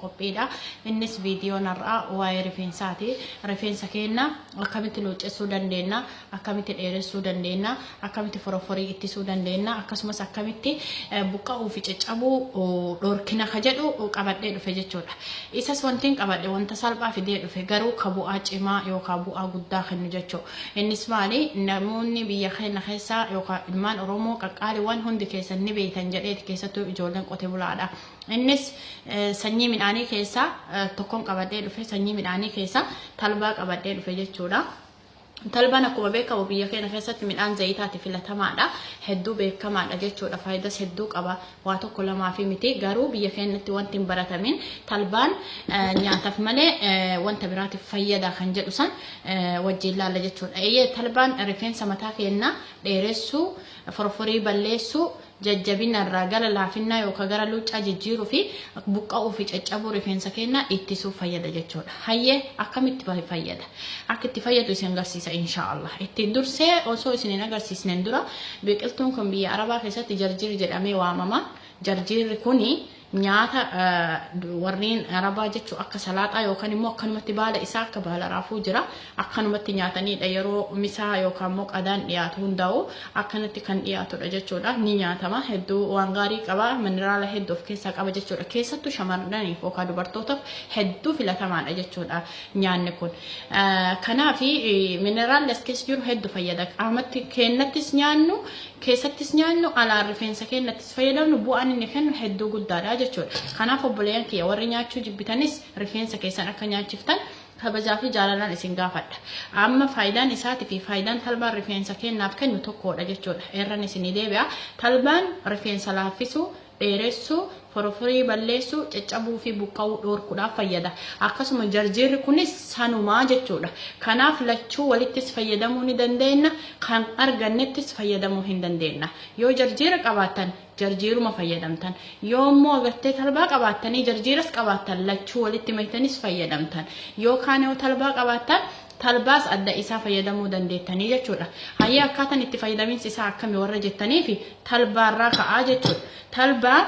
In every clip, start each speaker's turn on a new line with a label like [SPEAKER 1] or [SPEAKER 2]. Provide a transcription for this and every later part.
[SPEAKER 1] qophiidha. Innis viidiyoon har'aa waa'ee rifeensaati. Rifeensa keenya akkamitti luuccessuu dandeenya, akkamitti dheeressuu dandeenya, akkamitti foroforii ittisuu dandeenya, akkasumas akkamitti buqqa'uu fi caccabuu dhorkina ka jedhu qabadhee dhufe jechuudha. Isas wantiin qabadhe wanta salphaa fidee dhufe garuu ka bu'aa cimaa yookaan bu'aa guddaa kennu jechuu. Innis maali namoonni biyya keenya keessaa yookaan ilmaan Oromoo qaqqaaliiwwan hundi keessan ni beektan jedheeti keessattuu ijoolleen qote bulaadha. Innis sanyii midhaanii keessaa tokkon qabadhee dhufe sanyii midhaanii keessaa talbaa qabadhee dhufe jechuudha. Talbaan akkuma beekamu biyya keenya keessatti midhaan zayitaati filatamaadha. Hedduu beekamaadha jechuudha. Faayidas hedduu qaba. Waa tokko lamaa fi miti. Garuu biyya keenyatti wanti hin baratamin talbaan nyaataaf malee wanta biraatiif fayyada kan jedhu san wajjin laalla jechuudha. Eeyyee talbaan rifeensa mataa keenyaa dheeressuu, forforii balleessuu, jajjabinna irraa gara laafinnaa yookaa gara luuccaa jijjiiruu fi buqqa'uu fi caccabuu rifeensa keennaa ittisuuf fayyada jechuu dha. Hayyee akkamitti bahe fayyada? Akka itti fayyadu isin garsiisa inshaa Allah. Itti dursee osoo isin hin agarsiisneen dura biqiltuun kun biyya Arabaa keessatti jarjiir jedhamee waamama. Jarjiirri kuni Nyaata warreen Arabaa jechuun akka salaaxaa yookaan immoo akkanumatti baala isaa akka baala raafuu jira. Akkanumatti nyaataniidha yeroo misaa yookaan immoo qadaan dhiyaatu hundaa'u akkanatti kan dhiyaatudha jechuudha. Ni nyaatama hedduu waan gaarii qaba mineraala hedduu of keessaa qaba jechuudha. Keessattuu shamarraniif yookaan dubartootaaf hedduu filatamaadha jechuudha nyaanni kun. Kanaaf mineraalli as keessa jiru hedduu fayyada. Qaamatti keenyattis nyaannu keessattis nyaannu alaan rifeensa keenyattis fayyadamnu bu'aan inni kennu hedduu guddaadha jechuudha. Kanaaf obboleeyyan kiyya warri nyaachuu jibbitanis rifeensa keessan akka nyaachiftan kabajaa fi jaalalaan isin gaafadha. Amma faayidaan isaati fi faayidaan talbaan rifeensa keennaaf kennu tokkoodha jechuudha. Eerran isinii deebi'a. Talbaan rifeensa laaffisuu, dheeressuu, foroforii balleessuu, caccabuu fi buqqa'uu dhoorkuudhaaf fayyada. Akkasuma jarjiirri kunis sanumaa jechuudha. Kanaaf lachuu walittis fayyadamuu ni dandeenna, kan argannettis fayyadamuu hin dandeenna. Yoo jarjiira qabaattan jarjiiruma fayyadamtan. Yoo immoo agartee talbaa qabaattanii jarjiiras qabaattan lachuu walitti maktanis fayyadamtan. Yookaan yoo talbaa qabaattan talbaas adda isaa fayyadamuu dandeettanii jechuudha. Hayyee akkaataan itti fayyadaminsi isaa akkami warra jettaniifi talbaarraa ka'aa jechuudha. Talbaa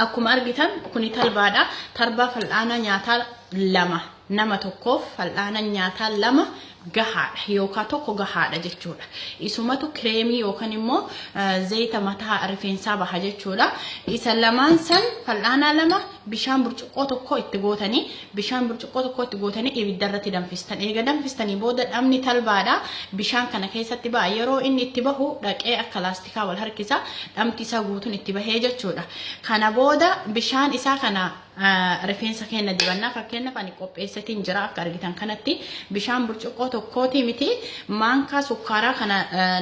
[SPEAKER 1] Akkuma argitan kuni talbaadha. Talbaa fal'aana nyaataa lama nama tokkoof fal'aana nyaataa lama gahaadha yookaan tokko gahaadha jechuudha. Isumatu kireemii yookaan immoo zayita mataa rifeensaa baha jechuudha. Isa lamaan san fal'aanaa lama bishaan burcuqqoo tokko itti gootanii bishaan burcuqqoo tokko itti gootanii ibidda irratti danfistan. Eega danfistanii booda dhamni talbaadha bishaan kana keessatti ba'a. Yeroo inni itti bahu dhaqee akka laastikii isaa wal harkisa dhamti isaa guutuun itti bahee jechuudha. Kana booda bishaan isaa kana rifeensa keenya dibannaa fakkeenyaaf ani qopheessatiin jira akka argitan kanatti bishaan burcuqqoo tokkootii miti maankaa sukkaaraa kana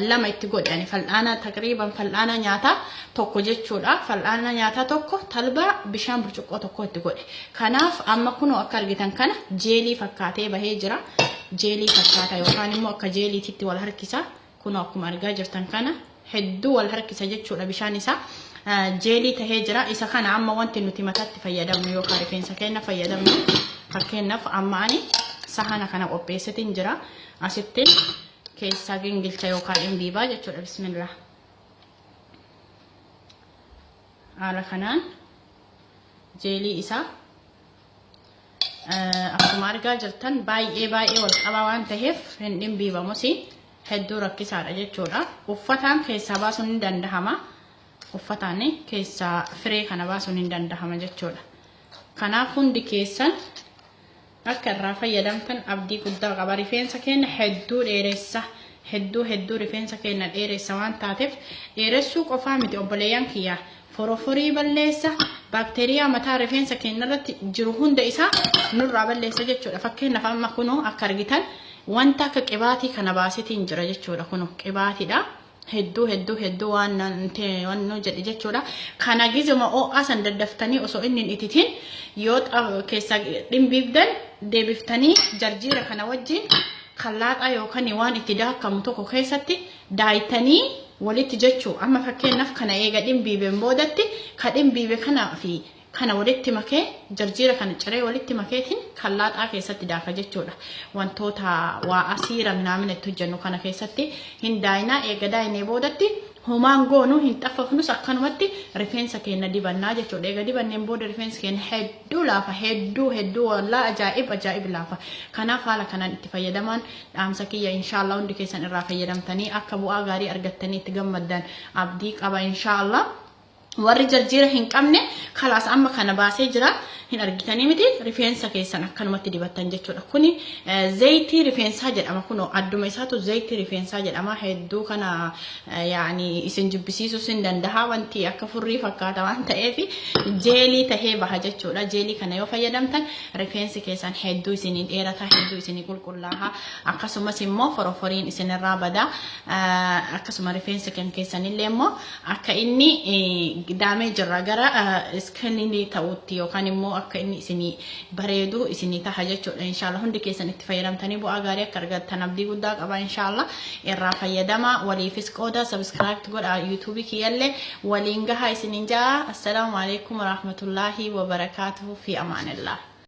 [SPEAKER 1] lama itti godhani fal'aana taqriiban fal'aana nyaataa tokko jechuudha fal'aana nyaataa tokko talbaa bishaan burcuqqoo tokko itti godhe kanaaf amma kunoo akka argitan kana jeelii fakkaatee bahee jira jeelii fakkaata yookaan immoo akka jeeliititti wal harkisa. Kunoo akkuma argaa jirtan kana hedduu wal harkisa jechuudha bishaan isaa jeelii tahee jira. Isa kana amma wanti nuti mataatti fayyadamnu yookaan rifeensa keenya fayyadamnu fakkeenyaaf amma ani sahana kana qopheessitiin jira. Asitti keessaa gingilcha yookaan imbiibaa jechuudha bismillah. Haala kanaan jeelii isaa Akkuma argaa jirtan baay'ee baay'ee wal qabaa waan ta'eef hin dhimbiibamus hedduu rakkisaadha jechuudha. Uffataan keessaa baasuun ni dandahama. Uffataan keessaa firee kana baasuun ni dandahama jechuudha. Kanaaf hundi keessan akka irraa fayyadamtan abdii guddaa qaba. Rifeensa keenya hedduu dheeressa. Hedduu hedduu rifeensa keenya dheeressa waan taateef dheeressuu qofaa miti obboleeyyan kiyyaa. Foroforii balleessa baakteeriyaa mataa rifeensa keenyarratti jiru hunda isaa nurraa balleessa jechuudha. Fakkeenyaaf amma kunoo akka argitan wanta akka qibaatii kana baasetiin jira jechuudha. Kunoo qibaatiidha. Hedduu hedduu hedduu waan nu jedhe jechuudha. Kana gizuma oo'aa san daddaftanii osoo inni hin ititiin yoo keessa dhimbiibdan deebiftanii jarjiira kana wajjin kallaaxaa yookaan waan itti daakamu tokko keessatti daaytanii walitti jechuu amma fakkeenyaaf kana eega dhimbiibeen boodatti ka dhimbiibe kana fi kana walitti makee jarjiira kana ciree walitti makeetiin kan laaxaa keessatti daaka jechuudha. Wantoota waa asiira minaamina itti hojjennu kana keessatti hin daayinaa eega daayinee boodatti homaan goonu hin xaffafnus akkanumatti rifeensa keenya dibannaa jechuudha. Eega dibanneen booda rifeensi keenya hedduu laafa hedduu hedduu wallaa ajaa'ib ajaa'ib laafa. Kanaaf haala kanaan itti fayyadamaan Dhaamsa kiyya inshallah hundi keessan irraa fayyadamtanii akka bu'aa gaarii argattanii itti gammaddan abdii qaba inshallah. Warri jarjiira hin qabne kalaas amma kana baasee jira hin argitanii miti rifeensa keessan akkanumatti dibattan jechuudha. Kuni eh, zayitii rifeensaa jedhama kunoo adduma isaatu zayitii rifeensaa jedhama hedduu kana eh, yaani isin jibbisiisuus hin danda'a wanti akka furrii fakkaata waan ta'eef jeelii tahee baha jechuudha. Jeelii kana yoo fayyadamtan Rifeensi keessan hedduu isinii dheerata, hedduu isinii qulqullaaha. Akkasumas immoo foroforiin isinirraa bada. Akkasuma rifeensi kan keessanillee immoo akka inni daamee jirra gara iskilinii ta'utti yookaan immoo akka inni isinii bareedu isinii taha jechuudha. Inshaallah hundi keessan itti fayyadamtanii bu'aa gaarii akka argattan abdii guddaa qaba inshaallah. Irraa fayyadama waliifis qooda subscribe godha YouTube kiyyallee waliin gaha isinin jaa. Assalaamu alaikum warahmatullaahi wabarakaatuhu fi amaanillah.